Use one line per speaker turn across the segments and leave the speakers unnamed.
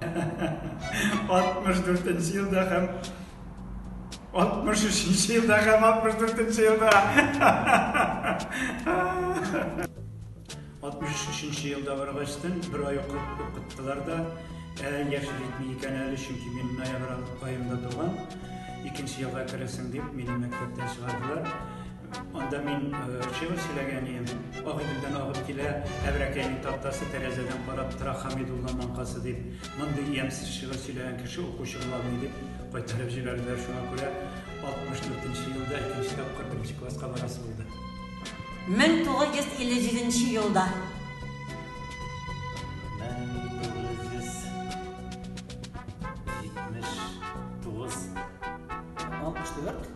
64 нче елда һәм 63 нче елда һәм 64 нче елда 63 нче елда баргачтын бер ай укыттылар да ә, яшел итми икән әле чөнки мин ноябрь аенда туган икенче елга керәсең дип мине мәктәптән чыгардылар Анда мин шигырь сөйләгән идем. Ак идәндән агып килә, әбрәкәйнең тактасы тәрәзәдән карап тора Хәмидулла маңкасы дип. Мондый ямьсез шигырь сөйләгән кеше укучы була алмый дип кайтарып җибәрделәр. Шуңа күрә 64 елда икенче тапкыр беренче класска барасы булды. 1957 елда. 1979. 64.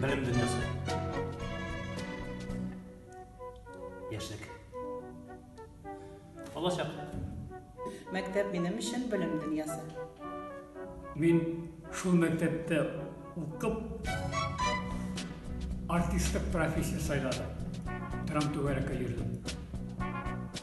Белем дөньясы. Яшьлек. Балачак. Мәктәп минем өчен белем дөньясы. Мин шул мәктәптә укып артистлык профессия сайладым. Трам түгәрәккә йөрдем.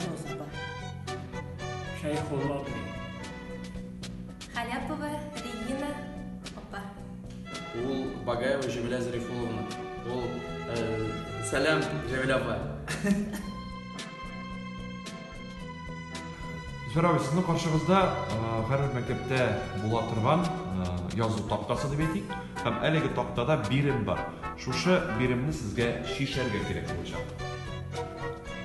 Роза бар. Шәйхулла абый. Халяпова Регина апа. Ул Багаева Җәмилә Зарифулловна. Ул э, Сәлам Җәмилә апа. Зөфәр абый, сезнең каршыгызда һәрбер э, мәктәптә була торган э, язу тактасы дип әйтик, һәм әлеге тактада бирем бар. Шушы биремне сезгә шишәргә кирәк булачак.